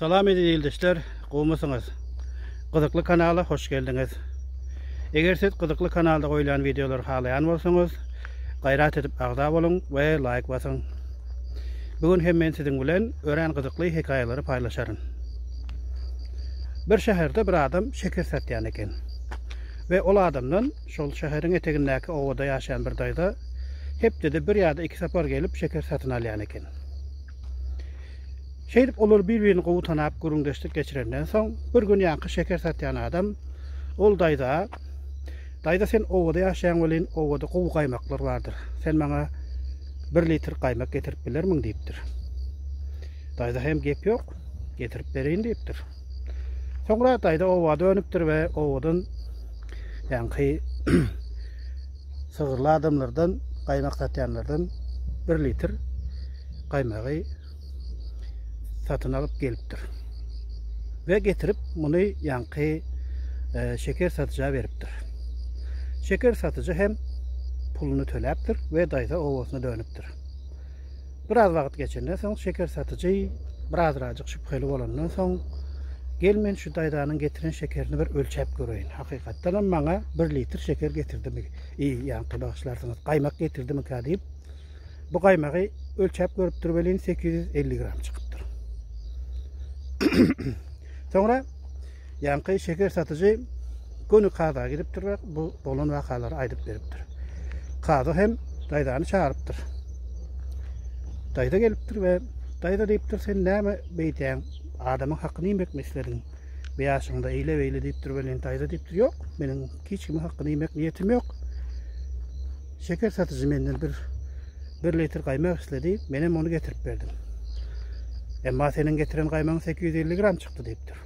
Salam eziz ildeşler, gowmysyňyz? Gyzykly kanala hoş geldiňiz. Eger siz gyzykly kanalda goýlan wideolary halaýan bolsaňyz, gaýrat edip agza boluň we laýk basyň. Bu gün hem men siziň bilen örän gyzykly hekaýalary paýlaşaryn. Bir şäherde bir adam şeker satýan eken. Ve ol adamdan Şol şäheriň etegindäki obada ýaşaýan bir daýza hepdede bir ýa-da iki sapar gelip şeker satyn alýan eken. Şeýdip olar bir-birini gowy tanap, gürrüňdeşlik geçirenden soň, bir gün ýaňky şeker satýan adam ol daýza, Daýza sen obada ýaşaýaň welin, obada gowy gaýmaklar bardyr. Sen maňa bir litr gaýmak getirip bilermiň diýipdir. Daýza hem gep ýok, getirip bereýin diýipdir. Soňra daýza oba dönüpdir we obadan ýaňky sygyrly adamlardan gaýmak satýanlardan bir litr gaýmagy satyn alyp gelipdir. Ve getirip muny ýaňky e, şeker satyja beripdir. Şeker satyjy hem puluny töläpdir ve daýza owasyna dönüpdir. Biraz wagt geçenden soň şeker satyjy birazrajyk şübheli bolandan soň, Gel men şu daýzanyň getiren şekerini bir ölçäp göreýin. Hakykatdanam maňa bir litr şeker getirdimi? I, ýaňky bagyşlarsyňyz, gaýmak getirdimikä diýip, bu gaýmagy ölçäp görüpdir welin, sekiz ýüz elli gram çykypdyr. Soňra Ýaňky şeker satyjy göni kaza gidipdir we bu bolan wakalary aýdyp beripdir. Kaza hem daýzany çagyrypdyr. Daýza gelipdir we daýza diýipdir, sen näme beýdýäň? Adamyň hakyny iýmekmi islediň? Bu ýaşyňda eýle beýle diýipdir welin daýza diýipdir, ýok, meniň hiç kimiň hakyny iýmek niýetim ýok. Şeker satyjy menden bir bir litr gaýmak isledi, men hem ony getirip berdim. Emma seniň getiren gaýmagyň 850 gram çykdy diýipdir.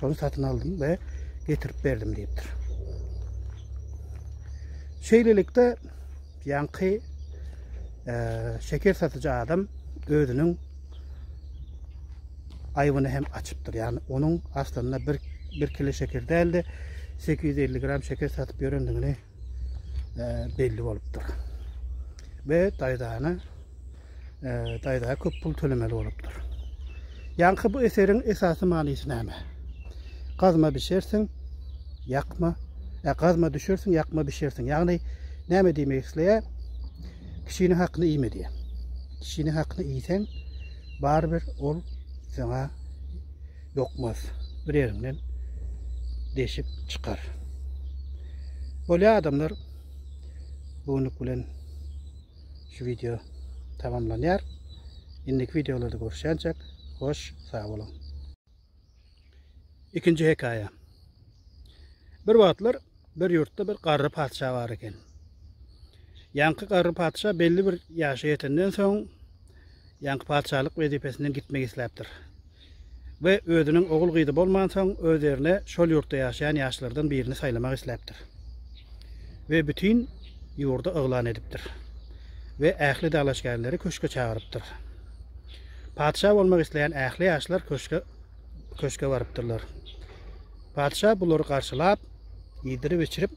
Şony satyn aldym we getirip berdim diýipdir. Şeýlelikde ýaňky e, şeker satyjy adam özüniň aýbyny hem açypdyr. Ýagny onuň aslynda bir bir kilo şeker däldi. 850 gram şeker satyp ýörendigini belli bolupdyr. Ve daýzana daýza köp pul tölemeli bolupdyr. Ýaňky bu eseriň esasy manysy näme? Gazma bişersiň, ýakma, ä gazma düşersiň, ýakma bişersiň. Ýagny näme diýmek isleýär? Kişiniň hakyny iýme diýär. Kişiniň hakyny iýseň, barybir ol saňa dokmaz bir ýeriňden deşip çykar. Bolýa adamlar bugünlük bilen şu video tamamlanýar. Indiki videolarda görüşýänçäk hoş sag boluň. Ikinji hekaýa. Bir wagtlar bir ýurtda bir garry patyşa bar eken. Ýaňky garry patyşa belli bir ýaşa ýetenden soň ýaňky patyşalyk wezipesinden gitmek isläpdir. we özüniň ogul-gyzy bolmansoň, öz ýerine şol ýurtda ýaşaýan ýaşlardan birini saýlamak isläpdir we bütin ýurda yglan edipdir we ähli dalaşgärleri köşge çagyrypdyr. Patyşa bolmak isleýän ähli ýaşlar köşge köşge barypdyrlar. Patyşa bulary garşylap, iýdirip-içirip,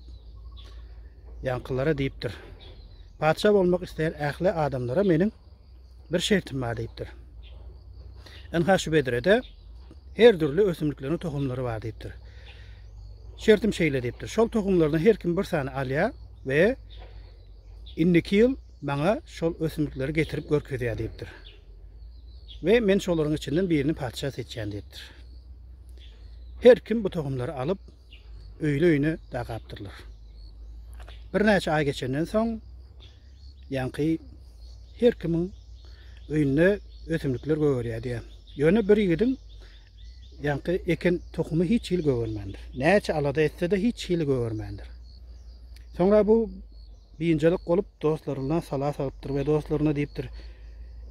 ýaňkylara diýipdir, Patyşa bolmak isleýän ähli adamlara meniň bir şertim bar diýipdir. Ynha şu bedrede her dürli ösümlikleriň tohumlary bar diýipdir. Şertim şeýle diýipdir. Şol tohumlardan her kim bir sany alýar we indiki ýyl maňa şol ösümlikleri getirip görkezýär diýipdir. We men şolaryň içinden birini patyşa seçýän diýipdir. Her kim bu tohumlary alyp öýli-öýüne dakapdyrlar. Birnäçe aý geçenden soň, ýaňky her kimiň öýünde ösümlikler gögerýärdi ýa. Ýöne bir ýigidiň ýaňky eken tohumy hiç hili gögermändir. Näçe alada etse-de hiç hili gögermändir. Soňra bu biynjalyk bolup dostlaryndan sala salypdyr we dostlaryna diýipdir,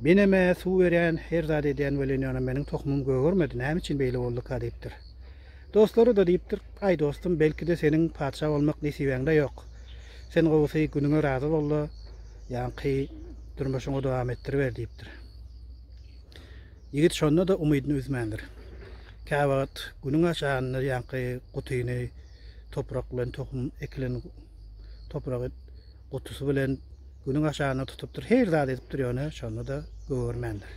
Menem-ä suw berýän, her zat edýän welin ýöne meniň tohumym gögermedi, näme üçin beýle bolduka diýipdir. Dostlary-da diýipdir, Aý, dostum, belki-de seniň patyşa bolmak nesibäňde ýok. Sen gowusy günüňe razy bol-da, ýaňky durmuşyňy dowam etdiriber diýipdir. Ýigit şonda-da umydyny üzmändir. Käwagt günüň aşanda ýaňky gutyny toprak bilen tohum ekilen topragy gutusy bilen günüň aşagyna tutupdyr, her zat edipdir, ýöne şonda-da gögermändir.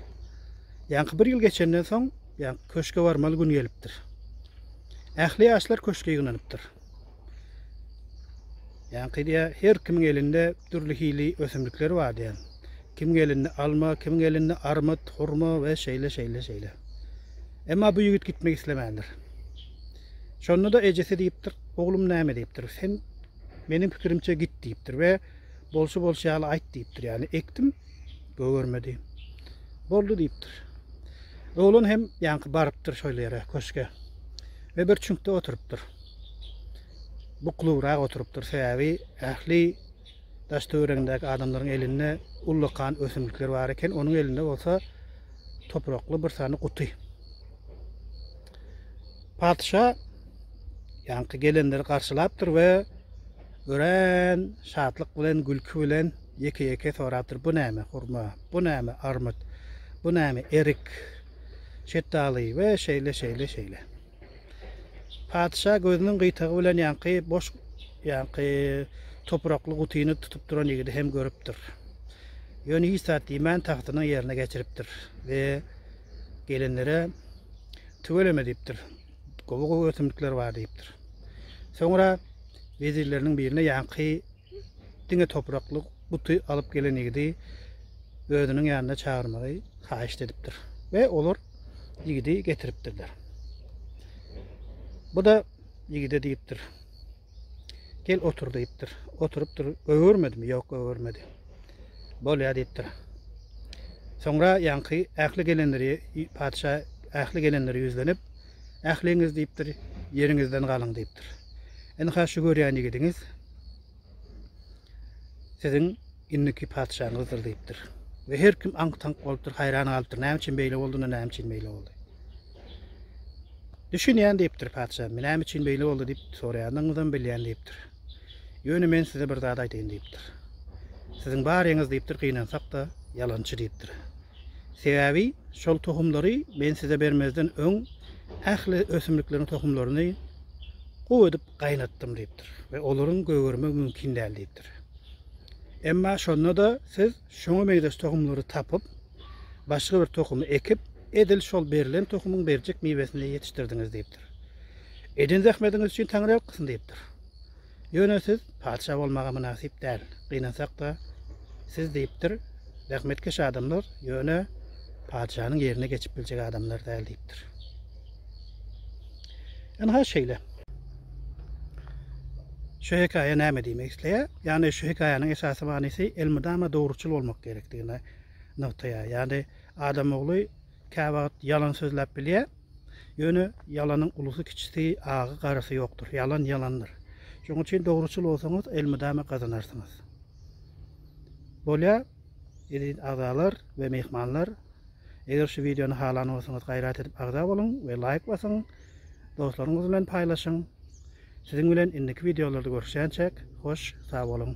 Ýaňky bir ýyl geçenden soň, ýaňky köşge barmaly gün gelipdir. Ähli ýaşlar köşge ýygnanypdyr. Ýaňky diýä, her kimiň elinde dürli hili ösümlikler bar diýen. Kimiň elinde alma, kimiň elinde armyt, hurma we şeýle şeýle şeýle. Emma bu ýigit gitmek islemändir. Şonda-da ejesi diýipdir, oglum näme diýipdir, sen Meniň pikirimçe git diýipdir we bolşy bolşy ýaly aýt diýipdir. Ýagny ekdim, gögermedi. Boldy diýipdir. Oglan hem ýaňky barypdyr şol ýere, köşge. Ve bir çüňkde oturypdyr. Buklubrak oturypdyr, sebäbi ähli daş töweregindäki adamlaryň elinde ullakan ösümlikler bar eken, onuň elinde bolsa toprakly bir sany guty. Patyşa ýaňky gelenleri garşylapdyr we örän şatlyk bilen, gülki bilen ýeke-ýeke sorapdyr, Bu näme hurma, bu näme armyt, bu näme erik, şetdaly we şeýle, şeýle, şeýle. Patyşa gözüniň gyýtagy bilen ýaňky boş, ýaňky toprakly gutyny tutup duran ýigidi hem görüpdir. Ýöne hiç zat diýmän tagtynyň ýerine geçiripdir we gelenlere Tüweleme diýipdir. Gowy-gowy ösümlikler bar diýipdir. Soňra wezirleriniň birine ýaňky diňe toprakly guty alyp gelen ýigidi özüniň ýanyna çagyrmagy haýyşt edipdir we olar ýigidi getiripdirler. Bu-da ýigide diýipdir. Gel otur diýipdir. Oturypdyr. Öwürmedimi? Ýok, öwürmedi. Bolýar diýipdir. Soňra ýaňky ähli gelenleri patyşa ähli gelenleri ýüzlenip, Ähliňiz diýipdir, ýeriňizden galyň diýipdir. Ynha şu görýän ýigidiňiz siziň Indiki patyşaň gyzydyr diýipdir. We her kim aňk-taňk bolupdyr, haýran galypdyr. Näme üçin beýle boldy, näme üçin beýle boldy? Düşünýän diýipdir patyşa. Näme üçin beýle boldy diýip soraýandygyňyzam bilýän diýipdir. Ýöne men size bir zat aýdaýyn diýipdir. Siziň baryňyz diýipdir, gynansak-da ýalançy diýipdir. Sebäbi şol tohumlary men size bermezden öň ähli ösümlikleriň tohumlaryny gup edip gaýnatdym diýipdir we olaryň gögermegi mümkin däl diýipdir. Emma şonda-da siz şoňa meňzeş tohumlary tapyp, başga bir tohumy ekip, edil şol berlen tohumyň berjek miwesini ýetişdirdiňiz diýipdir. Eden zähmediňiz üçin Taňry alkysyn diýipdir. Ýöne siz patyşa bolmaga mynasyp däl. Gynansak-da, siz diýipdir, zähmetkeş adamlar, ýöne patyşanyň ýerine geçip biljek adamlar däl diýipdir. Ynha şeýle. Şu hekaýa näme diýmek isleýär? Ýagny şu hekaýanyň esasy manysy elmydama dogruçyl bolmak gerekdigini nygtaýar. Ýagny adam ogly käwagt ýalan sözläp bilýär. Ýöne ýalanyň ulusy kiçisi, agy garysy ýokdur. Ýalan ýalandyr. Şonuň üçin dogruçyl bolsaňyz elmydama gazanarsyňyz. Bolýar. Eziz agzalar we myhmanlar eger şu wideony halan bolsaňyz gaýrat edip agza boluň we laýk basyň dostlaryňyz bilen paýlaşyň siziň bilen indiki wideolarda görüşýänçäk hoş sag boluň.